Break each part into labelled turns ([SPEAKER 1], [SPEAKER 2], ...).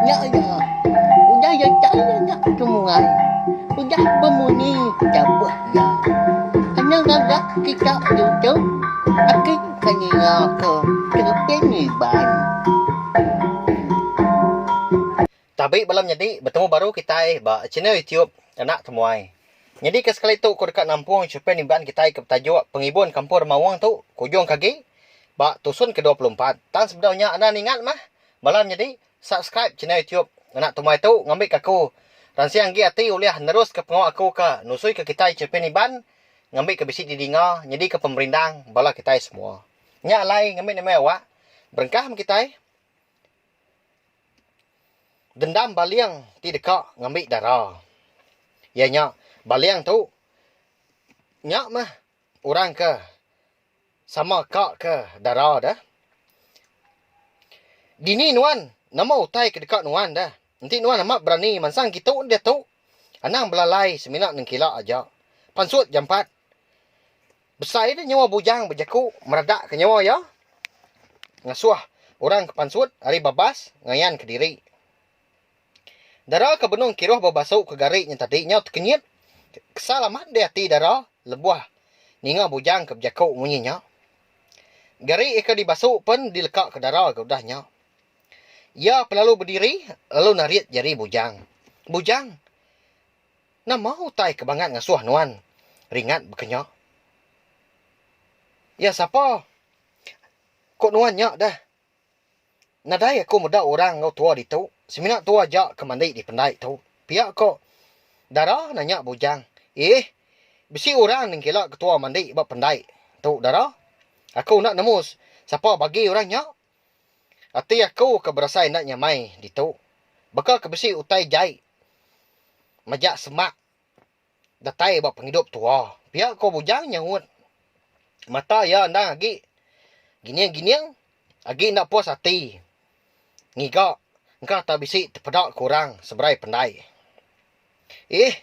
[SPEAKER 1] Nya iya, udah iya chai nya ke muai, udah bemunyi dabuh iya. Kena ngaga kita diutuh, aki ke ninga ke tereping iban.
[SPEAKER 2] Tabi bala menyadi betemu baru kitai ba channel YouTube Anak Temuai. Nyadi ke sekali tu ku deka nampung chopin iban kitai ke betajuk Pengibun Kampung Remaung tu ke ujung ke agi ba tusun ke dua puluh empat. Tang sebedau nya enda ningat mah bala menyadi subscribe channel YouTube Anak Temuai tu ngambi ke aku ransing agi ati ulih nerus ke pengawa aku ke nusui ke kitai chopin iban ngambi ke bisi di dinga nyadi ke pemerindang bala kitai semua. Nya alai ngambi nama awak. Berengkah meh kitai. Dendam baling ti deka ngambi dara. Iya nya baling tu nya meh orang ke sama ka ke dara deh. Dini nuan nama utai ke deka nuan deh. Enti nuan amat berani mansang kitu enda diatu anang belalai semina nengkila aja. Pansut jampat. Besai nya nyawa bujang bejaku meredakka nyawa iya ngasuh orang ke pansut ari babas ngayanka diri. Dara ke benung kiruh ba basu ke gari nya tadi nyau tekenyit kesal amat deh ati dara lebuh ninga bujang ke bejaku munyi nya. Gari ke dibasu pen dilekaka dara ga udah nya. Iya pelalu bediri lalu narit jari bujang. Bujang! Nama utai ke bangat ngasuh nuan ringat bekenya? Iya sapa? Ko nuan nya deh. Nadai aku meda orang enggau tua ditu, semina tua aja ke mandi di pendai tu, pia ko Dara nanya Bujang. Iih, bisi orang nengkila ketua mandi ba pendai tu Dara. Aku enda nemu sapa bagi orang nya. Ati aku ke berasai enda nyamai ditu. Baka ke bisi utai jai majak semak datai ba pengidup tua. Pia ko Bujang nyaut. Mata iya endang agi gining-gining agi enda puas ati ngiga engka tau bisi tepeda ke orang seberai pendai. Iih.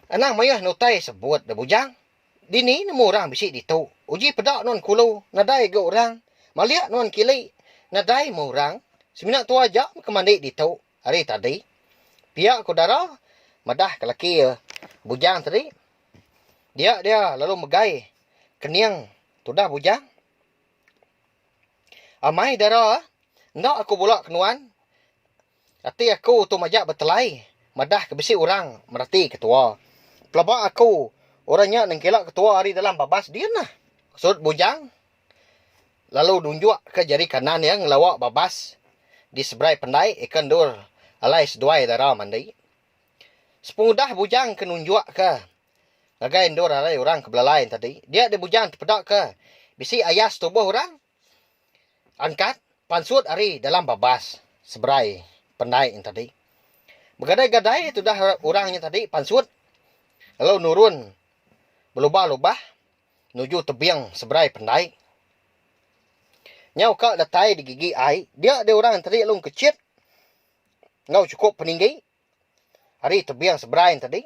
[SPEAKER 2] Anang mayuh ne utai sebut da Bujang. Dini nemu orang bisi ditu. Uji peda nuan kulu nadai ga orang. Malik nuan kili nadai meh orang. Semina tua aja meh ke mandi ditu hari tadi. Pia ku dara madah ke laki iya Bujang tadi. Dia dia lalu megai kening tudah Bujang. Amai dara enda aku bula ke nuan Ati aku tu majak betelai madah ke bisi orang merati ketua. Pelaba aku orang nya nengkila ketua ari dalam babas din nah, ku Sudut Bujang lalu nunjuk ke jari kanan iya ngelawa babas di seberai pendai eka endur alai seduai dara mandi. Sepengudah Bujang ke nunjuk ke ngagai endur alai orang ke belalai enti tadi, dia deh Bujang tepeda ke bisi ayas tubuh orang. Angkat pansut ari dalam babas seberai pendai nya tadi. Begadai-gadai tudah orang nya tadi pansut lalu nurun belubah-lubah nuju tebing seberai pendai. Nyau ka datai digigi ai, dia deh orang nya tadi lalu engkechit enggau chukup peninggi. ari tebing Seberang tadi.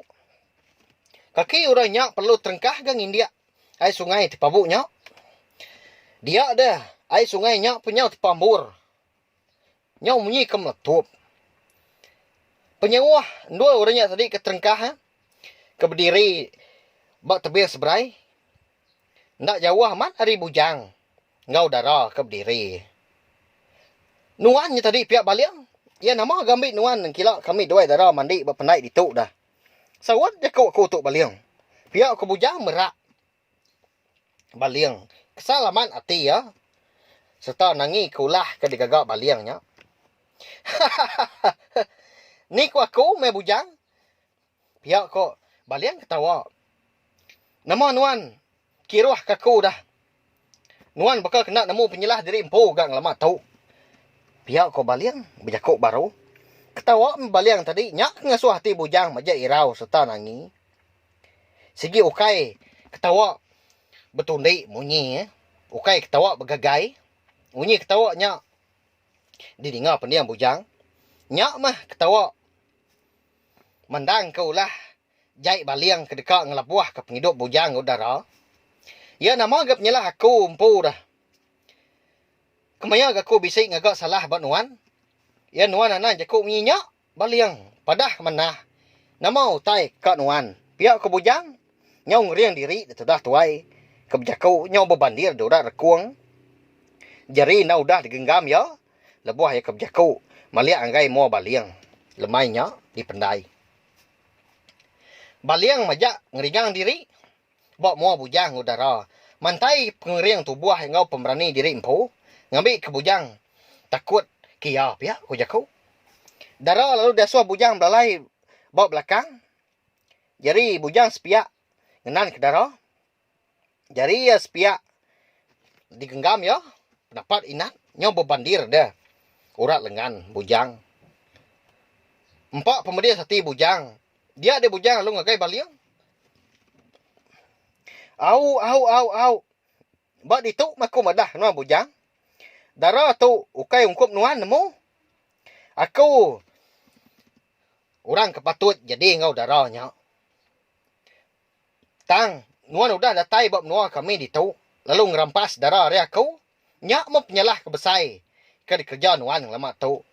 [SPEAKER 2] Kaki orang nya perlu terengkah ga ngindik ai sungai ti pabu nya. Dia deh ai sungai nya pun nyau tepambur. Nyau munyi ke meletup. Penyauh endur orang nya tadi ke terengkah ke bediri ba tebing Seberai. Enda jauh amat ari bujang enggau dara ke bediri. Nuan nya tadi pia baling, iya nama ga ambi nuan nengkila kami duai dara mandi ba pendai ditu dah. Saut jaku aku tu baling. Pia ku bujang merak baling kesal amat ati iya sereta nangi ke ulah ke digaga baling nya. Hahahaha. Ni ku aku meh bujang. Pia ko Baling ketawa. Nama nuan kiruh ke aku dah. Nuan baka kena nemu penyelah diri empu ga ngelama tu. Pia ko Baling bejako baru. Ketawa meh Baling tadi nya ke ngasuh ati Bujang majak irau serta nangi. Sigi ukai ketawa betundi munyi eh. Ukai ketawa begagai. Munyi ketawa nya didinga pending Bujang. Nya meh ketawa. Mandangka ulah Jai Baling ke deka ngelebuhka pengidup bujang udara, iya nama ga penyalah aku empu dah. Kemaya ga aku bisi ngaga salah ba nuan? Iya nuan anang jaku munyi nya, Baling. Padah manah, nama utai ka nuan pia ku bujang nyau ngering diri ditudah tuai ke bejaku nyau bebandir di urat rekung jari enda udah digenggam iya. Lebuh iya ke bejaku, meliak enggai mua Baling. Lemai nya dipendai. Baling majak ngeringang diri ba mua Bujang Udara mantai pengering tubuh enggau pemberani diri empu ngambi ke Bujang takut ke iya pia ku jaku. Dara lalu diasuh Bujang belalai ba belakang jari Bujang sepiak ngenanka Dara. Jari iya sepiak digenggam iya napat Inat nyau bebandir deh urat lengan Bujang. Empa pemedis ati Bujang. Dia deh Bujang lalu ngagai baling. Au au au au. Ba ditu meh aku madah nuan Bujang. Dara tu ukai ungkup nuan nemu. Aku orang ke patut jadi enggau dara nya. Tang, nuan udah datai ba menua kami ditu lalu ngerampas dara ari aku, nya meh penyalah ke besai ke dikereja nuan ngelama tu.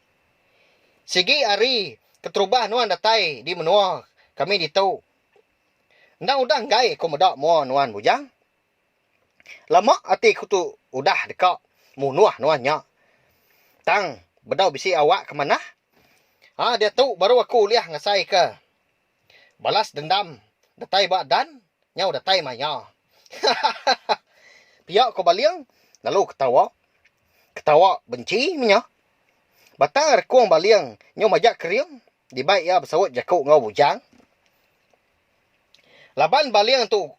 [SPEAKER 2] Sigi ari keterubah nuan datai di menua kami ditu, endang udah enggai aku meda mua nuan bujang. Lama ati aku tu udah deka munuh nuan nya. Tang, bedau bisi awak ke manah, a diatu baru aku ulih ngasaika. Balas dendam datai ba Dan nyau datai maya. Hahaha. Pia ko Baling lalu ketawa. Ketawa benci menya. Batang rekung Baling nyau majak kering dibai iya besaut jaku enggau Bujang. Laban Baling tu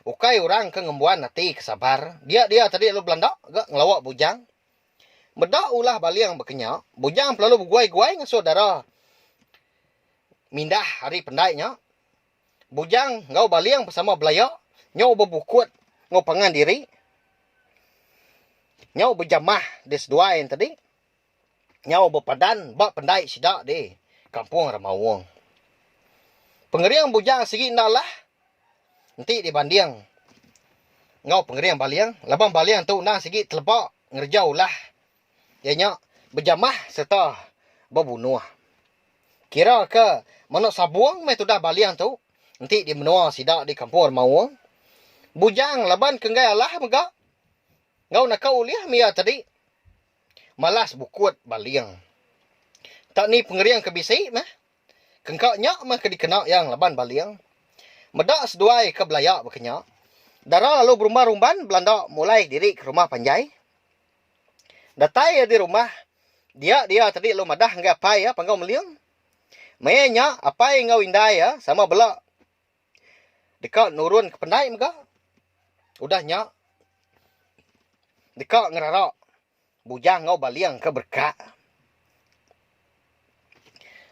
[SPEAKER 2] ukai orang ke ngembuan ati ke sabar, dia dia tadi lalu belanda ga ngelawa Bujang. Meda ulah Baling baka nya, Bujang pelalu beguai-guai ngasuh dara. Mindah ari pendai nya, Bujang enggau Baling besama belaya nyau bebukut enggau pangan diri nyau bejamah di seduai tadi nyau bepadan ba pendai sida di Kampung Remaung. Pengering Bujang sigi enda alah enti dibanding enggau pengering Baling laban Baling tu endang sigi teleba ngereja ulah. Iya nya bejamah sereta bebunuh. Kira ke manuk sabung meh tudah baling tu enti di menua sida di Kampung Remaung. Bujang laban ke enggai alah mega enggau naka ulih mih iya tadi. Malas bukut baling. Enta ni pengering ke bisi meh. Kengka nya meh ke dikena iya ngelaban baling. Meda seduai ke belaya baka nya, dara lalu berumban-rumban belanda mulai diri ke rumah panjai. Datai iya di rumah, dia dia tadi lu madah enggai apai iya Panggau Meling. Maya nya apai enggau indai iya sama bela deka nurun ke pendai mega. Udah nya deka ngerara Bujang enggau Baling ke berkat.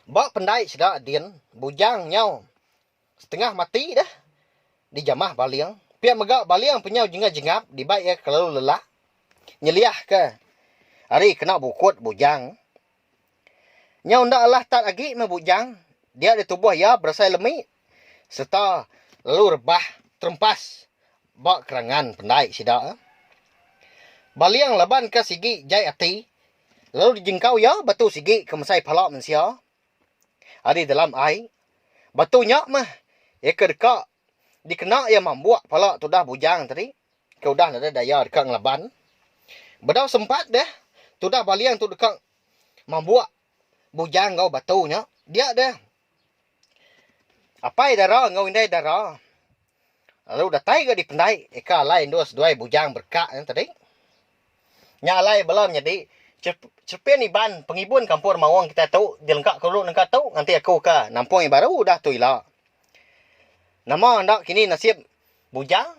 [SPEAKER 2] Ba pendai sida din, Bujang nyau Setengah mati deh dijamah baling. Pia mega baling penyau jengap-jengap dibai iya kelalu lelak nyeliahka ari kena bukut bujang. Nyau enda alah tat agi meh bujang dia di tubuh iya berasai lemi sereta lalu rebah terempas ba kerangan pendai sida. Baling laban ka sigi jai ati lalu dijengkau iya batu sigi ke mesai pala mensia. ari dalam ai. Batu nya meh iya ke deka dikena iya mambuk pala tudah bujang tadi ke udah nadai daya deka ngelaban. Bedau sempat deh, tudah baling tu deka mambuk bujang enggau batu nya. Dia deh apai dara enggau indai dara. Lalu datai ga dipendai ika alai endur seduai bujang berka nya tadi. Nya alai bala nyadi cherepin Iban pengibun kampung Remaung kitai tu dilengka ke dulu nengka tu nganti aku ka nampung yang baru udah tu ila. Nama enda kini nasib bujang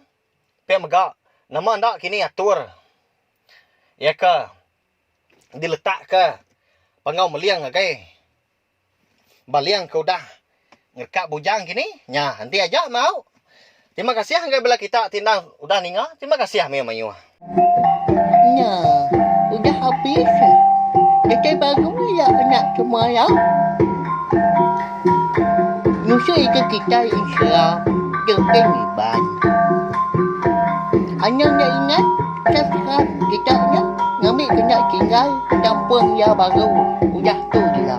[SPEAKER 2] pia mega nama enda kini atur iya ka diletak ka Panggau Meling ngagai Baling ke udah ngereka bujang kini nya enti aja mau. Terima kasih ngagai bala kita ti enda udah ninga. Terima kasih mayuh-mayuh.
[SPEAKER 1] Nya, udah habis eh. Kitai baru aja kena semaya. Nusa ika kitai Islam dek deng Iban. Anang enda ingat? Kan kan kita nya ngambi ke nya tinggal ke kampung iya baru udah tu dila.